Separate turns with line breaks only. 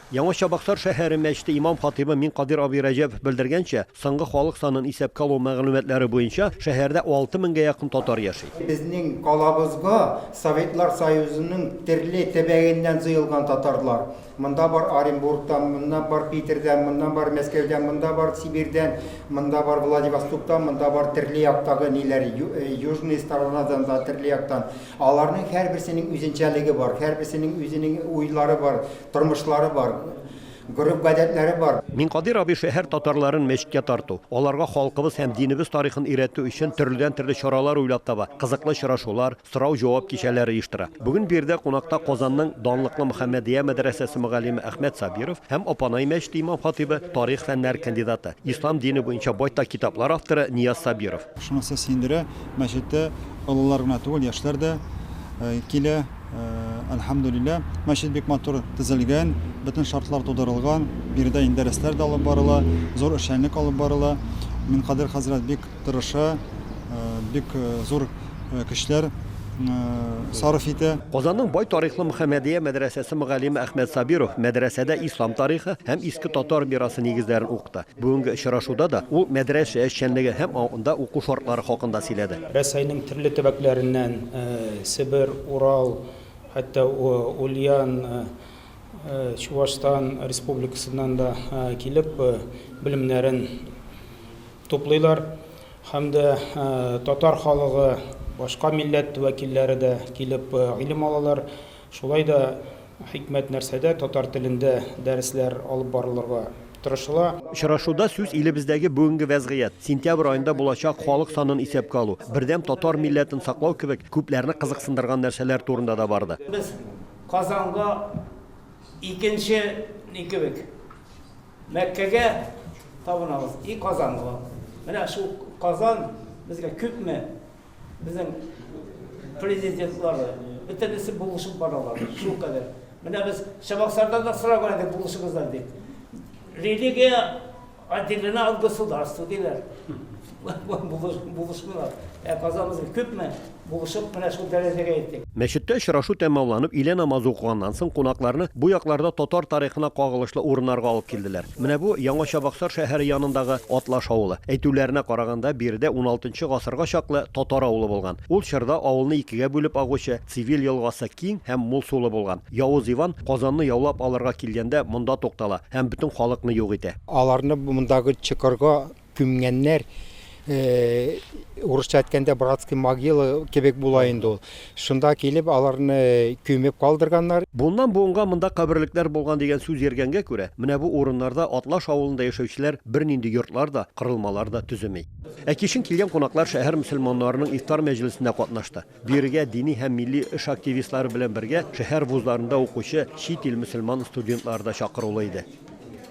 Яңа Чабаксар шәһәре мәчете имам-хатыйбы Минкадир абый Рәҗәпов белдергәнчә, соңгы халык санын исәпкә алу мәгълүматлары буенча, шәһәрдә алты меңгә якын татар яши. Безнең калабызга
Советлар Союзының терле тәбәгеннән җыелган татарлар, монда бар Оренбургтан, моннан бар Питердән, моннан бар Мәскәүдән, монда бар Сибирьдән, монда бар Владивостоктан, монда бар терле яктагы ниләр, Южные сторонадан да, терле яктан. Аларның һәрберсенең үзенчәлеге бар, һәрберсенең үзенең уйлары бар, тормышлары бар, гореф-гадәтләре бар. Минкадир абый шәһәр
татарларын мәчеткә тарту, аларга халкыбыз һәм динебез тарихын өйрәтү өчен төрледән-төрле чаралар уйлап таба, кызыклы очрашулар, сорау-җавап кичәләре оештыра. Бүген биредә кунакта Казанның данлыклы Мөхәммәдия мәдрәсәсе мөгаллиме Әхмәт Сабиров һәм Апанай мәчете имам-хатыйбы, тарих фәннәре кандидаты, ислам дине буенча байтак китаплар авторы Нияз Сабиров. Шунысы сөендерә,
мәчеттә олылар гына түгел, яшьләр дә килә. Әлхәмдүлилләһ, мәчет бик матур төзелгән, бөтен шартлар тудырылган. Биредә инде дәресләр дә алып барыла, зур эшчәнлек алып барыла. Минкадыйр хәзрәт бик тырыша, бик зур көчләр сарыф итә. Казанның бай тарихлы
Мөхәммәдия мәдрәсәсе мөгаллиме Әхмәт Сабиров мәдрәсәдә ислам тарихы һәм иске татар мирасы нигезләрен укыта. Бүгенге очрашуда да ул мәдрәсә эшчәнлеге һәм анда уку шартлары хакында сөйләде. Рәсәйнең төрле
төбәкләреннән, Себер, Урал, хәтта Ульян, Чуашстан республикасыннан да килеп, белемнәрен туплыйлар. Һәм дә татар халыгы, башка милләт вәкилләре дә килеп гыйлем алалар. Шулай да хикмәт нәрсәдә, татар телендә дәресләр алып барылырга тырышыла. Очрашуда сүз
илебездәге бүгенге вәзгыять, сентябрь аенда булачак халык санын исәпкә алу, бердәм татар милләтен саклау кебек күпләрне кызыксындырган нәрсәләр турында да барды. Без
Казанга икенче ни кебек, Мәккәгә табынабыз, и Казанга. Менә шул Казан безгә күпме Безнең президентлар бөтенесе булышып баралар, шул кадәр. Менә без Чабаксардан да сораган идек булышыгызда дип. Религия отделена от государства диләр. Булышмыйлар. Ә казамыз күпме булышып менә шул дәрәҗәгә иттек. Мәчеттә очрашу
тәмамланып, илә намазы укыганнан соң, кунакларны бу якларда татар тарихына кагылышлы урыннарга алып килделәр. Менә бу, Яңа Чабаксар шәһәре янындагы Атлаш авылы. Әйтүләренә караганда, биредә уналтынчы гасырга чаклы татар авылы булган. Ул чорда авылны икегә бүлеп агучы Цивиль елгасы киң һәм мул сулы булган. Явыз Иван, Казанны яулап алырга килгәндә, монда туктала һәм бөтен халыкны юк итә. Аларны мондагы
чокырга Күмгәннәр, урысча әйткәндә, братский могила кебек була инде ул. Шунда килеп, аларны күмеп калдырганнар. Буыннан буынга монда
каберлекләр булган дигән сүз йөргәнгә күрә, менә бу урыннарда Атлаш авылында яшәүчеләр бернинди йортлар да, кырылмалар да төземи. Ә кичен килгән кунаклар шәһәр мөселманнарының ифтар мәҗлесендә катнашты. Биергә дини һәм милли эш активистлары белән бергә шәһәр вузларында укучы чит ил мөселман студентлары да чакырулы иде.